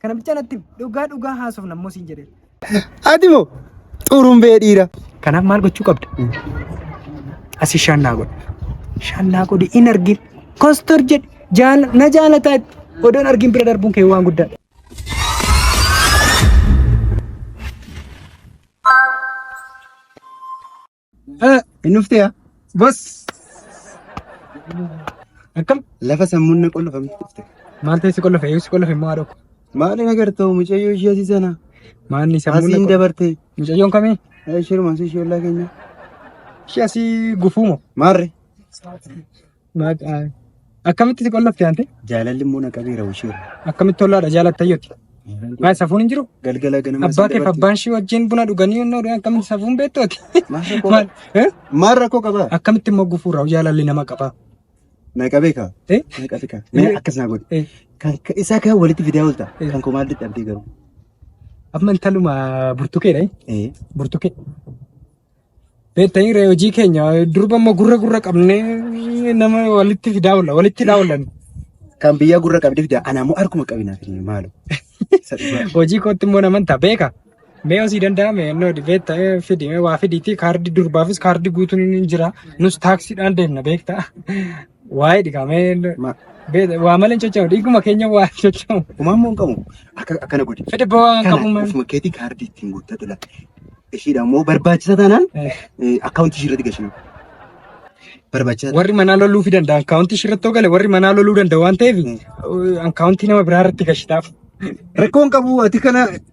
Kana bichaa natti himi. Dhugaa dhugaa haasofna immoo siin jedhee. Ati moo xurumbee dhiira. Kanaaf maal gochuu qabda? Asi shaan naa godhi. Shaan naa godhi hin argin. Kostor jedhi. Jaala na jaalataa itti. Odoon argin bira darbuun kee waan guddaa. Hin dhuftee yaa? Bas! Akkam? Lafa sammuun na qollofame dhufte. Maal ta'e si qollofe? Yoo si qollofe immoo haadha koo. Maali na gartoo mucayyoo ishee asii sana? Maanni sammuun Asiin dabarte. Mucayyoon kamii? Ishee rumaasuu ishee ollaa keenya. Ishee asii gufuu moo? Maarre? Akkamitti si qollofte ante? Jaalalli immoo na qabeera ishee. Akkamitti tollaadha jaalattayyoti? Maa safuun hin jiru? Galgala ganama Abbaa keef abbaan shii wajjin buna dhuganii yennoo dhugan akkamitti safuun beektooti? Maal? Eh? Maal rakkoo qabaa? Akkamitti immoo gufuurraa jaalalli nama qabaa? Na qabee kaa. Eh? Na qabee kaa. Mee akkas naa godhe. Eh. Kan ka- isaa kaa walitti fidaa oolta. Eh. Kan koo maal dadhabdee garuu. Amma intaluma burtukeedha. eh? Eh. Burtukee. Beektanii ree hojii keenya durba immoo gurra gurra qabnee nama walitti fidaa oolla walitti hidhaa oollan. Kan biyyaa gurra qabdi fida. Ana ammoo harkuma qabinaa fi maalo. Hojii kootti immoo naman ta'a beeka. Mee osii danda'ame innoo beekta fidi mee waa fidiiti kaardii durbaafis kaardii guutuun hin jira. Nus taaksiidhaan deemna beekta. Waa'ee dhigaa mee Ma- beeta waa malee hin socho'u dhiiguma keenya waa hin socho'u. Kumaan moo hin qabu? Akka- Akkana godhi. Fedhe ba'aa hin qabu Kana malee. ofuma keetii kaardii ittiin guuttatu laata. Ishiidha immoo barbaachisa taanaan Eh, akkaawuntii ishii irratti gashina. Barbaachisa Warri manaa loluu fi danda'a akkaawuntii shirrattoo gale warri manaa loluu danda'a waan ta'eef akkaawuntii nama biraa irratti gashitaaf. Rakkoo hin qabu ati kana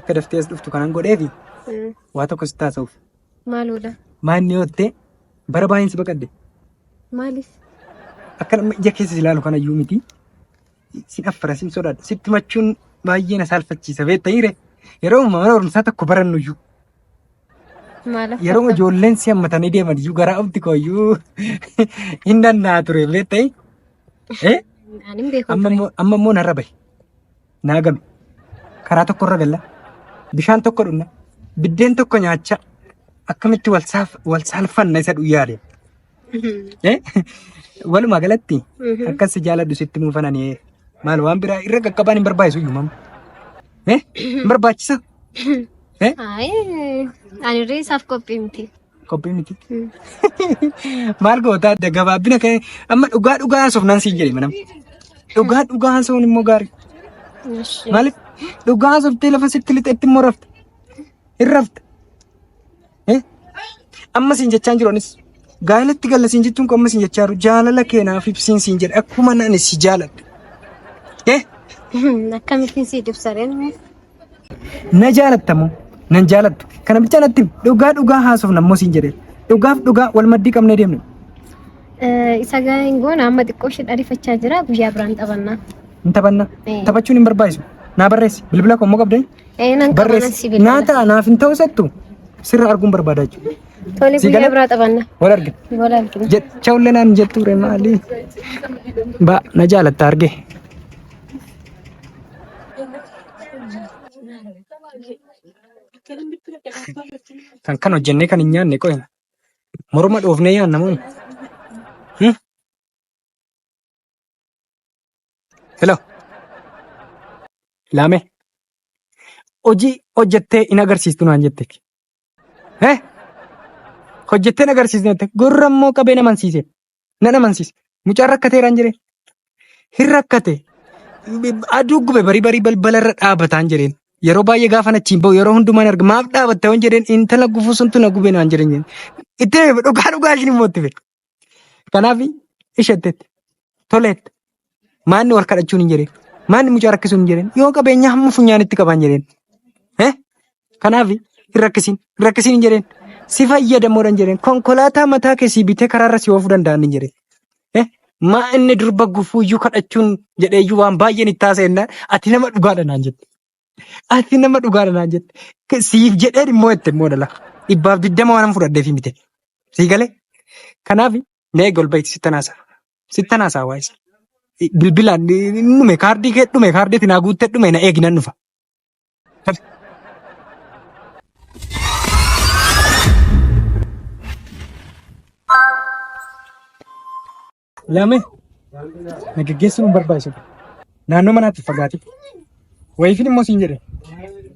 Akka daftee as dhuftu kanan godheefi Mm. waa tokko sitti haasa'uuf. Maaloodha? Maanni yoo ta'e bara baay'een si baqadde. Maaliif? Akka nama ija keessa si ilaalu kana iyyuu miti. Sin affara sin sodaadha. Sitti machuun baay'ee na saalfachiisa beekta hiire. Yeroo amma mana barumsaa tokko barannu iyyuu. Maalaaf? Yeroo ijoolleen si hammatanii deeman iyyuu garaa ofti koo iyyuu hin danda'aa ture beekta. Eh? Ani hin beeku. Amma immoo amma immoo narra bahe. naa game. Karaa tokko irra galla. Bishaan tokko dhunna. Biddeen tokko nyaachaa. Akkamitti wal saaf- wal saalfanna isa dhuyyaale. Eh? Walumaa galatti akkas si jaaladhu sitti muufananii maal waan biraa irra qaqqabaan hin barbaachisu iyyuu mamma. Eh? Hin barbaachisa. Eh? Ayi, ani irree isaaf qophii miti. Kophee miti. Maal goota adda gabaabina kee amma dhugaa dhugaa haasofnaan siin jedhe manam. Dhugaa dhugaa haasofn immoo gaarii. Ishee. Maaliif dhugaa haasoftee lafa sitti lixetti immoo rafta. Hin rafta. Eh? Amma siin jechaa hin jiru anis. Gaa'elatti galla siin jettuun kun amma siin jechaa jiru jaalala keenaaf ibsiin siin jedhe akkuma ani si jaaladhe. Eh? Akkamittiin si dibsareen? Na jaalatta moo? Nan jaalattu. Kana bichaa natti himi. dhugaa dhugaa haasofna immoo siin jedhee. Dhugaaf dhugaa wal maddii qabnee deemna. Isa gaahin goona amma xiqqoo ishee dharifachaa jira guyyaa biraan taphannaa. Hin taphanna. Ee. Taphachuun hin barbaachisu. Naa barreessi. Bilbila koo immoo qabdee? Ee nan qabana si Barreessi. Naa bilbila. ta'a naaf hin ta'u settu. Sirra arguun barbaada jechuudha. Tole Si guyyaa gala? biraa taphanna. Wal argina. Wal argina. Jecha ullee naan jettu ture maali? Ba na jaalatta argee. Kan kan hojjennee kan hin nyaanne qo'ina. Morma dhoofnee yaanna moo? Hmm? Hello. Laame. Hojii hojjettee hin agarsiistu naan jette. Eh? Hojjettee hin agarsiistu jette. Gurra immoo qabee na mansiise. Nan amansiise. Mucaan rakkateeraan jedheen. Hin rakkate. Aduu gube barii barii balbala irra dhaabataan jedheen. Yeroo baay'ee gaafa achiin bahu yeroo hundumaa arga maaf dhaabatta waan jedheen intala gufuu suntu na gube naan jedhan jedheen. Itti hime dhugaa dhugaa ishin immoo itti hime. Kanaaf isheetteetti. Toleetti. Maanni wal kadhachuun hin jedhin. Maanni mucaa rakkisuun hin jedhin. Yoo qabeenya hamma funyaanitti qabaan jedhin. Eh? Kanaaf hin rakkisin. Hin rakkisin hin jedhin. Si fayyadamoodha hin jedhin. Konkolaataa mataa kee sii bitee karaarra si oofuu danda'an hin jedhin. Eh? Maa inni durba gufuuyyuu kadhachuun jedheeyyuu waan baay'een itti haasa'e jennaan ati nama dhugaadha naan jette. Ati nama dhugaadha naan jette. K- Siif jedhee immoo jette immoo dhala. Dhibbaaf digdama waan fudhadheef mite. Sii galee? Kanaaf mee eega ol ba'iiti sittan haasa'a. Sittan haasa'a waa'ee isaa. Bilbilaan hin dhume kaardii kee dhume kaardii ati naa guuttee dhume na eegi nan dhufa. Laame na geggeessuun barbaachisuudha. Naannoo manaatti fagaate. Wayiifin immoo siin jedhe.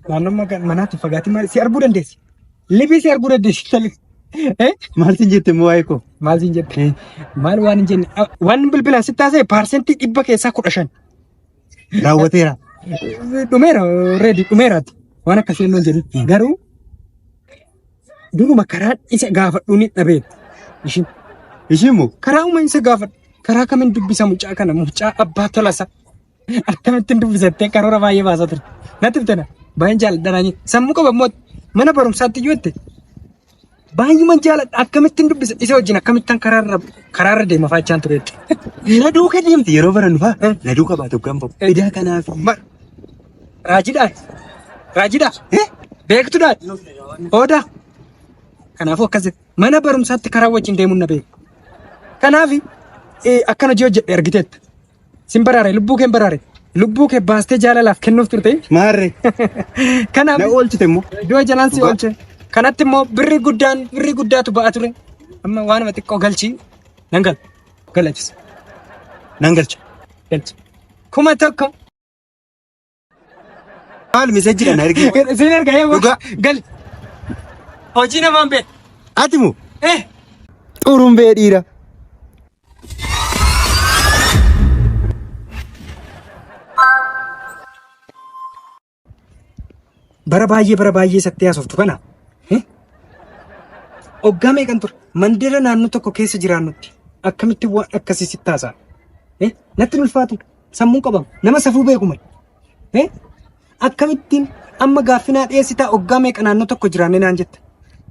Naannoo maga- manaatti fagaate maal si arguu dandeessi. Libii si arguu dandeessi. Tali. Eh? Maal siin jette immoo waa'ee koo? Maal siin jette? Maal waan hin jenne? Ah, Waan bilbilaan si taasise paarsentii dhibba keessaa kudha shan. Raawwateera. Dhumeera reedi dhumeeraati. Waan akkasii hin jedhu. Garuu Duruma karaan isa gaafadhu ni dhabeen. Ishiin Ishiin moo? karaa uma isa gaafadhu. Karaa kamiin dubbisa mucaa kana mucaa abbaa tolasa. Akkamittiin dubbisattee karoora baay'ee baasaa ture. Natti bitana baay'een jaalladhanaanii sammuu qaba immoo mana barumsaatti yoo itti baay'uma jaalladha akkamittiin dubbisa isa wajjin akkamittaan karaarra karaarra deema faachaan ture. Na duuka deemti yeroo barannu faa. Na duuka baatu kan bahu. Edaa kanaaf. Mar Raajidhaan. Raajidhaa. Eh? Beektudhaan. Hoodaa. Kanaafuu akkas jedhe. Mana barumsaatti karaa wajjin deemuun na beeku. Kanaaf eh, akkan hojii hojjedhe argiteetta. Sin baraare lubbuu kee hin baraare. Lubbuu kee baastee jaalalaaf kennuuf turte. Maarre. Kanaaf Na oolchite immoo. iddoo jalaan si oolche. Kanatti immoo birri guddaan birri guddaatu ba'a ture. Amma waanuma xiqqoo galchii nan gala. Galachisa. Nan galcha. Galcha. Kuma tokko. Maal misejjidha na ergi. Isin erga eewa. Dhugaa. Gal. Hojii namaan beek. Ati moo Eh. xurumbee dhiira. Bara baay'ee bara baay'ee sattee haasoftu kana. eh? Oggaa meeqan ture mandira naannoo tokko keessa jiraannutti akkamitti waan akkasii sitti haasa'a? Eh? Natti hin ulfaatu. Sammuun qabama. Nama safuu beeku malee. Eh? Akkamittiin amma gaaffinaa dhiyeessitaa oggaa meeqa naannoo tokko jiraannee naan jetta.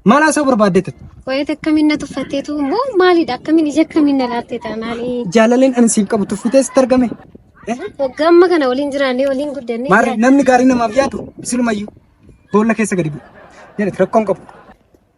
Maal haasa'uu barbaadde ta'a? Wayit akkamiin na tuffatteetu immoo maalidha akkamiin ija akkamiin na laatte taanaani. Jaalaleen ani siif qabu tuffitee sitti argame. Eh? Waggaa amma kana waliin jiraannee waliin guddannee. Maarree namni gaarii namaaf yaadu silumayyuu boolla keessa gadi bu'u. Jedhati rakkoon qabu.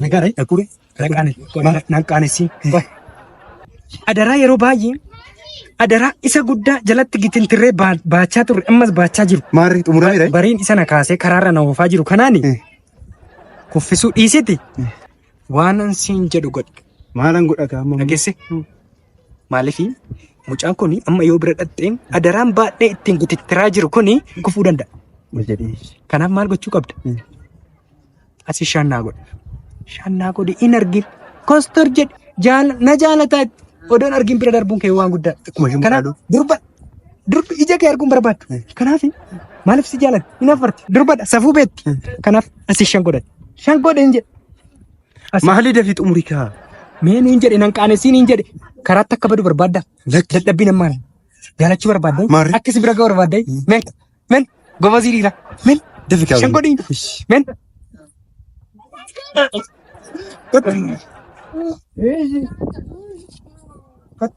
Nagaadha dhaquure nan qaanessii hin bahe. Adaraa yeroo baay'ee adaraa isa guddaa jalatti gitintirree baa- baachaa turre ammas baachaa jiru. Maarri xumuraa jira. Bariin isa na kaasee karaarra na oofaa jiru kanaani Eh. kuffisuu dhiisiti waanan siin jedhu godhi. Maalan godhata amma? dhageesse Maaliif mucaan kun amma yoo bira dhaqxee adaraan baadhee ittiin gutittiraa jiru kun gufuu danda'a. Kanaaf maal gochuu qabda? Asi shaan naa godhi. Shaan naa godhi hin argin. Kostor jedhi jaala na jaalataa itti. Odoon argin bira darbuun kee waan guddaa. Akkuma isheen Kanaaf maqaa durba durbi ija kee arguun barbaaddu. Kanaaf maaliif si jaalatti? Hin affarti. Durbadha safuu beetti. Kanaaf asi shan godhati. Shan godhi hin jedhi. Maali dafii xumuri kaa. Mee nuun jedhe nan qaanessii niin jedhe karaatti akka badu barbaadda. Dadhabbiin ammaan jaalachuu barbaadda. Maarri. Akka si bira ga'u barbaadda. Men men gobazii dhiira. Men Dafi kaa. shan godhii. Men. Kot. Kot.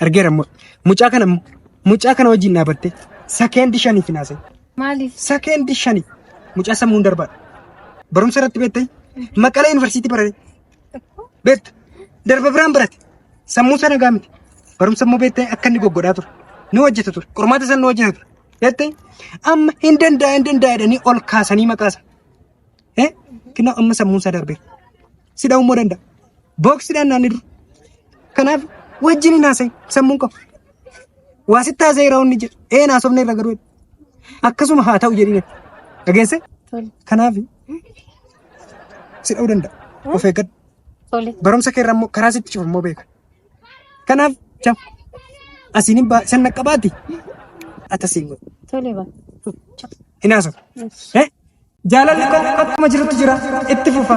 Argeera immoo. Mucaa kana immoo. Mucaa kana wajjin dhaabattee sakeendi shaniif hin haasa'in. Maaliif? Sakeendi shani. Mucaa sammuun darbaadha. Barumsa irratti beektee maqalee yuunivarsiitii barate. Beekta. Darba biraan barate. Sammuu sana gaa miti. Barumsa immoo beektee akka inni goggodhaa ture. Ni hojjeta ture. Qormaata sana ni hojjeta ture. Beektee amma hin danda'a hin danda'a jedhanii ol kaasanii maqaasa. Eh? Kennaa amma sammuun isaa darbeera. si dha'uu immoo danda'a. Booksidhaan naanni dura. Kanaaf wajjin hin haasa'in sammuun qabu. Waa sitti haasa'e yeroo inni jedhu ee naasofne irra garuu akkasuma haa ta'u jedhine dhageesse. Tole. Kanaaf si dha'uu danda'a. Of eeggadhu. Tole. Barumsa kee irraa immoo karaa sitti cufu immoo beeka. Kanaaf jam asiin hin baa san naqqabaati. Ata siin godhu. Tole baa. hin haasofne. Eh? Jaalalli koo akkuma jirutti jira itti fufa.